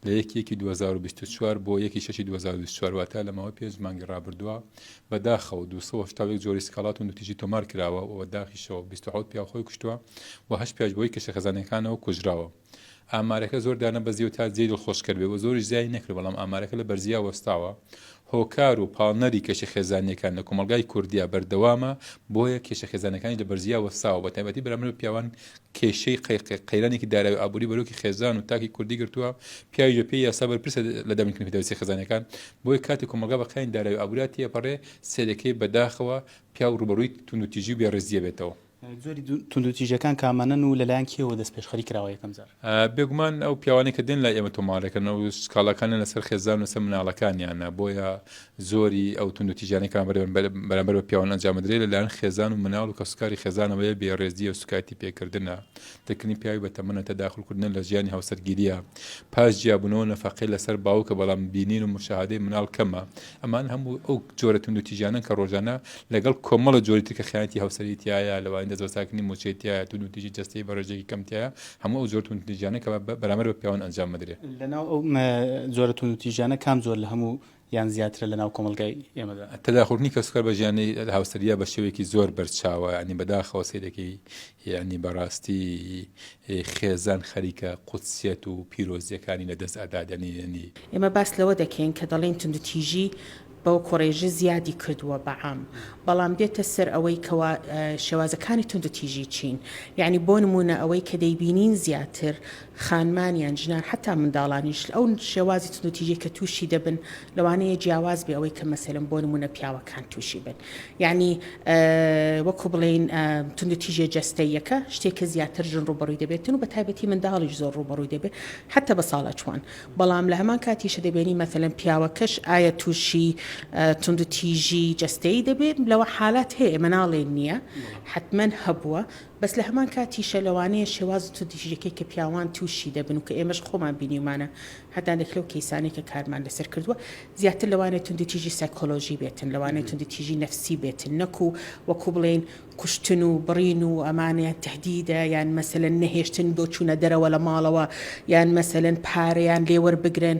لە یەکی یەکی 2024 بۆ یەکی شەشی 2024 واتە لە ماوەی پێنج مانگی ڕابردووە بە داخەوە 270 جۆری سکاڵات و نوتیجی تۆمار کراوە و داخیشەوە 27 پیا خۆی کوشتووە و هەشت پیاش بۆی کەشە خەزانەکانەوە کوژراوە ئامارەکە زۆر دانەبەزیەوە تا جێ دڵخۆشکەر بێ و زۆریش زیای نەکرد بەڵام ئامارەکە لە بەرزیا وەستاوە هۆکار و پاڵنەری کێشە خێزانیەکان لە کۆمەلگای کوردیا بەردەوامە بۆیە کێشە خێزانەکانی لە بەرزیا وەستاوە بە تایبەتی بەرامبەر پیاوان کێشەی قەیرانێکی دارای و ئابووری بەرۆکی خێزان و تاکی کوردی گرتووە، پیاویش بەپێی یاسا بەرپرسە لە دابینکردنی پێداویستییە خێزانییەکان، بۆیە کاتێک کۆمەڵگا بە قەیرانی دارای و ئابووریا تێپەڕێ، سەیرەکەی بە داخەوە پیاو ڕووبەڕووی توندوتیژی و بێڕێزی ئەبێتەوە. جۆری توندوتیژییەکان کامانەن و لەلایەن کێوە دەستپێشخەری کراوە یەکەم جار؟ بێگومان ئەو پیاوانەی کە دێن لای ئێمە تۆمارەکەن و سکاڵاکانیان لەسەر خێزان و لەسەر مناڵەکانیانە، بۆیە زۆری ئەو توندوتیژیانەی کە بەرامبەر بە پیاوان ئەنجام ئەدرێت لە لایەن خێزان و مناڵ و کەسوکاری خێزانەوەیە بێ ڕێزیە و سوکایەتی پێکردنە دەرکردنی پیاوی بە تەمەنە تەداخول کردنە لە ژیانی هاوسەرگیریە پاش جیابونەوە نەفەقەی لەسەر باوکە بەڵام بینین و مشاهدەی مناڵ کەمە ئەمان هەموو ئەو جۆرە توندوتیژیانەن کە ڕۆژانە لەگەڵ کۆمەڵە جۆری تر کە خیانەتی هاوسەری تایە لەوانی دەستبەساکردنی موچەی تایە توندوتیژی جەستەی بە ڕێژەیەکی کەم تایە هەموو ئەو جۆر توندوتیژیانە کە بەرامبەر بە پیاوان ئەنجام مەدرێ لەناو ئەو جۆرە توندوتیژیانە کام جۆر لە هەموو یان زیاترە لەناو کۆمەڵگای ئێمەدا. تەداخولکردنی کەسوکار بە ژیانی هاوسەرگیرا بە شێوەیەکی زۆر بەرچاوە، یانی بەداخەوە سەیرەکەی، یانی بەڕاستی خێزان خەریکە قودسیەت و پیرۆزییەکانی لەدەست ئەدات، یانی. ئێمە باس لەوە دەکەین کە دەڵێین توندوتیژی بەو کۆڕێژە زیادی کردووە بە عام، بەڵام دێتە سەر ئەوەی کەوا شێوازەکانی توندوتیژی چین، یانی بۆ نموونە ئەوەی کە دەیبینین زیاتر خانمان یان ژنان حەتا منداڵانیش ئەو شێوازی توندو تیژەی کە توشی دەبن لەوانەیە جیاواز بێ ئەوەی کە مەسەلەن بۆ نمونە پیاوەکان توشی بن یانی وەکو بڵێین توندو تیژە جەستەیەکە شتێکە زیاتر ژن ڕوبەڕوی دەبێتن و بە تایبەتی منداڵیش زۆر ڕوبەڕوی دەبێت حەتا بە ساڵە چوان بەڵام لە هەمان کاتیشە دەبێنی مەسەلەن پیاوەکەش ئایا توشی توندو تیژی جەستەی دەبێت لەوە حالات هەیە مناڵێن نییە حتمما هەبووە بەس لە هەمان کاتیشە لەوانەیە شێوازت و دژیەکەی کە پیاوان توشی دەبن و کە ئێمەش خۆمان بینیومانە هەندانێک لەو کەیسانەی کە کارمان لەسەر کردوە زیاتر لەوانەیە توندوتیژی سایکۆلۆژی بێتن لەوانەیە توندوتیژی نەفسی بێتن نەکو وەکو بڵێین کوشتن و بڕین و ئەمانە یان تەهدیدە یان مەسەلەن نەهێشتن بۆ چونە دەرەوە لە ماڵەوە یان مەسەلەن پارەیان لێ وەربگرن.